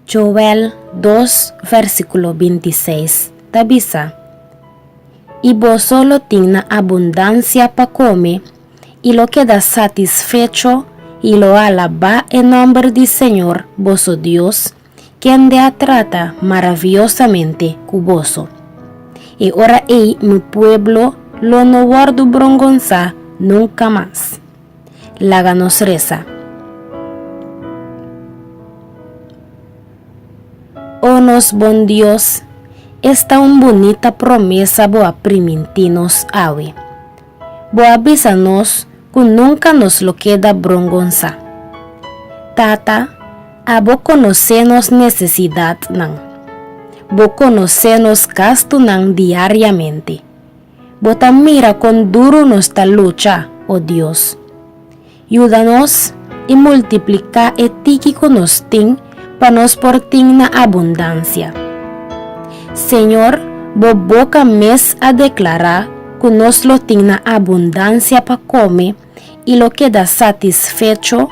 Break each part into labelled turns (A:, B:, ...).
A: Joel dos versíkulo binti seis ta bisa, I boso lo tin na abundansia pa kome, i lo keda satisfecho, i lo alabá e nòmber di Señor, boso Dios, kende a trata maraviosamente ku boso. E ora ei mi pueblo lo no wòrdu brongonsá nunka mas. Laga nos resa. O nos Bon Dios, esta un bunita promesa bo a primintí nos awe. Bo a bisa nos cu nunca nos lo keda brongonsa. Tata, abo conoce nos necesidadnan. Bo conoce nos gastunan diariamente. Bo ta mira con duro nos ta lucha, oh Dios. Yuda nos i multipliká e tiki ku nos tin pa nos por tin na abundansia. Señor, bo boka mes a deklará ku nos lo tin na abundansia pa kome i lo keda satisfecho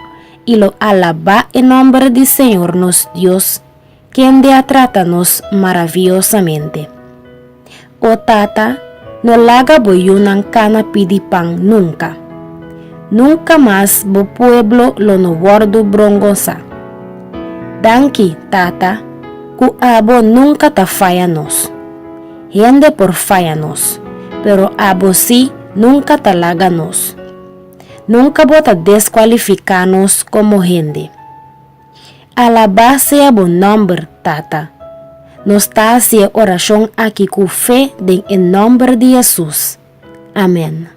A: i lo alabá e nòmber di Señor nos Dios, Kende a trata nos maraviosamente? O Tata, no laga bo yunan kana pidi pan nunka. Nunka mas bo pueblo lo no wòrdu brongonsá. Danki, Tata, ku abo nunka ta faya nos. Hende por faya nos, pero abo sí nunka ta laga nos. Nunka bo ta deskualifiká nos komo hende. Alabá sea bo nòmber, Tata. Nos ta hasi e orashon aki ku fe den e nòmber di Hesus. Amèn.